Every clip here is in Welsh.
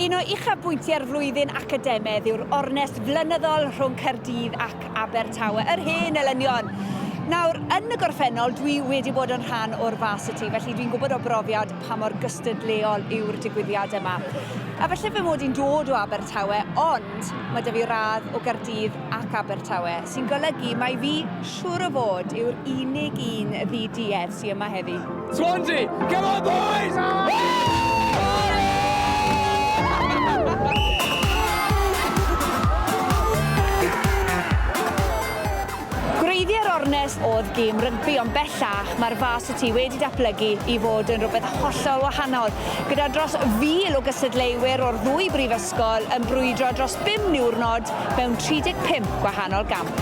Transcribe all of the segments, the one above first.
Un o uchafbwyntiau'r flwyddyn academedd yw'r ornest flynyddol rhwng Caerdydd ac Abertawe, yr hen elynion. Nawr, yn y gorffennol, dwi wedi bod yn rhan o'r Varsity, felly dwi'n gwybod o brofiad pa mor gystadleuol yw'r digwyddiad yma. A felly fy mod i'n dod o Abertawe, ond mae da fi radd o Gaerdydd ac Abertawe, sy'n golygu mai fi, siŵr o fod, yw'r unig un ddi-duedd sy yma heddi. Swansea! Come on boys! Gwreiddiau'r ornest oedd gêm rygbi ond bellach mae'r Varsity wedi datblygu i fod yn rhywbeth hollol wahanol, gyda dros 1,000 o gystadleuwyr o'r ddwy brifysgol yn brwydro dros bum niwrnod mewn 35 gwahanol gamp.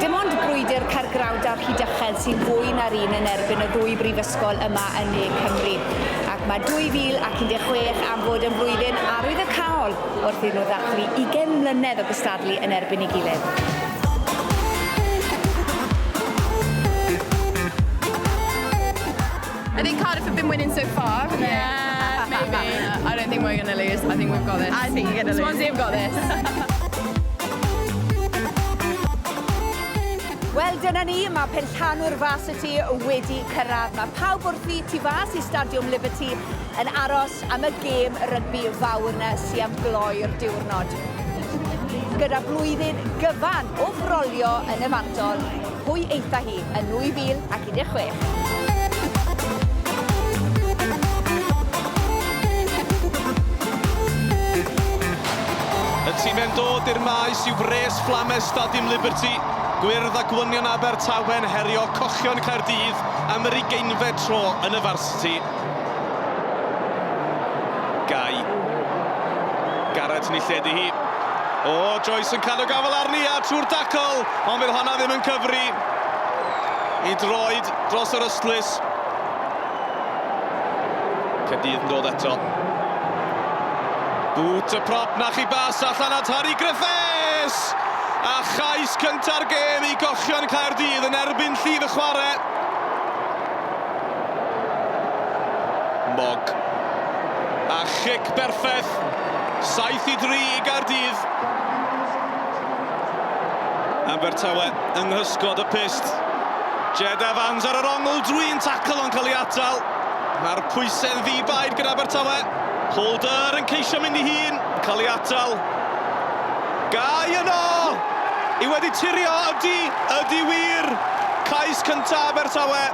Dim ond brwydr Caergrawnt a Rhydychen sy'n fwy na'r un yn erbyn y ddwy brifysgol yma yn ne Cymru. Ac mae 2016 am fod yn flwyddyn arwyddocaol wrth iddyn nhw ddathlu 20 mlynedd o gystadlu yn erbyn ei gilydd. I think Cardiff have been winning so far. Yeah, maybe. I don't think we're going to lose. I think we've got this. I think you're going to lose. Swansea have got this. Wel, dyna ni, mae penllanw'r fas y tu wedi cyrraedd. Mae pawb wrthi tu fas i Stadiwm Liberty yn aros am y gêm rygbi fawr na sy am gloi'r diwrnod. Gyda blwyddyn gyfan o frolio yn y fantol, Pwy eitha hi yn 2016? Y timau'n dod i'r maes yw Wres Flames Stadiwm Liberty, Gwyrdd a Gwynion Abertawe'n herio Cochion Caerdydd am yr ugeinfed tro yn y Varsity. Gai. Garrett ni lledu hi. O, Joyce yn cadw gafael arni a trwy'r dacl, ond fydd honna ddim yn cyfri i droed dros yr ystlys. Cadydd yn dod eto. Bwt y prop na chi bas allan at Harry Griffiths! A chais cynta'r gêm i gochion Caerdydd yn erbyn llif y chwarae. Mogg. A chic berffaith. 7 i 3 i Gaerdydd. Abertawe yng nghysgod y pyst. Jed Evans ar yr ongl drwy'n tacl yn cael ei atal. Mae'r pwysau'n ddi-baid gyda Abertawe. Holder yn ceisio mynd i hun, cael ei atal. Gau yno! Yw wedi turio? Ydy! Ydy wir! Cais cynta Abertawe.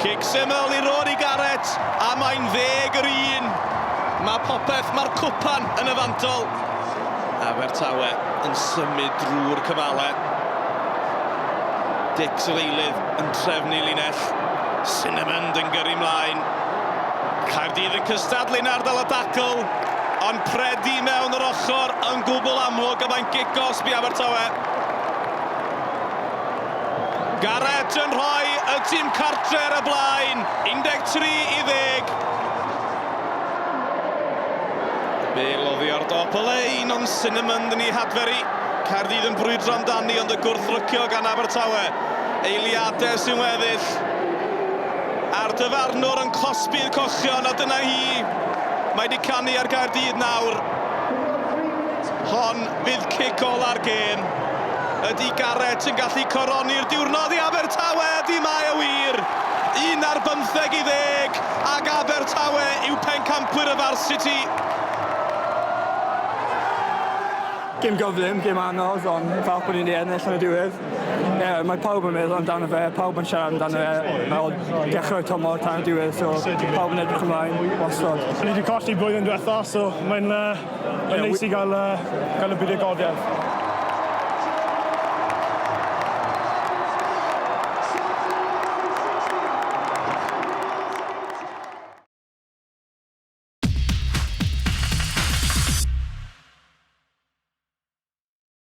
Cic syml i Rory Garrett, a mae'n ddeg yr un. Mae popeth, mae'r cwpan yn y fantol. Abertawe yn symud drwy'r cyfale. Dix yr eilydd yn trefnu linell. Sinnamond yn gyrru mlaen. Caerdydd yn cystadlu yn ardal y dacl, ond predi mewn yr ochr yn gwbl amlwg a mae'n gigosb i Abertawe. Garrett yn rhoi y tîm cartre ar y blaen, 13 i ddeg. Bale oddi ar dop y lein, ond Sinnamond yn ei hadferu. Caerdydd yn brwydro amdani ond y gwrthrycio gan Abertawe. Eiliadau sy'n weddill, a'r dyfarnwr yn cosbi'r cochion, a dyna hi. Mae 'di canu ar Gaerdydd nawr. Hon fydd cic ola'r gêm. Ydy Garrett yn gallu coroni'r diwrnod i Abertawe? Ydy mae o wir! Un ar bymtheg i ddeg, ac Abertawe yw pencampwyr y Varsity. Gêm gyflym, gêm anodd, ond falch bod ni 'di ennill yn y diwedd. Ie, mae pawb yn meddwl amdano fe, pawb yn siarad amdano fe fel dechrau tymor tan y diwedd, so pawb yn edrych ymlaen wastod. Ni wedi colli blwyddyn diwetha, so mae'n uh, yeah, neis i gael, uh, gael y buddugoliaeth.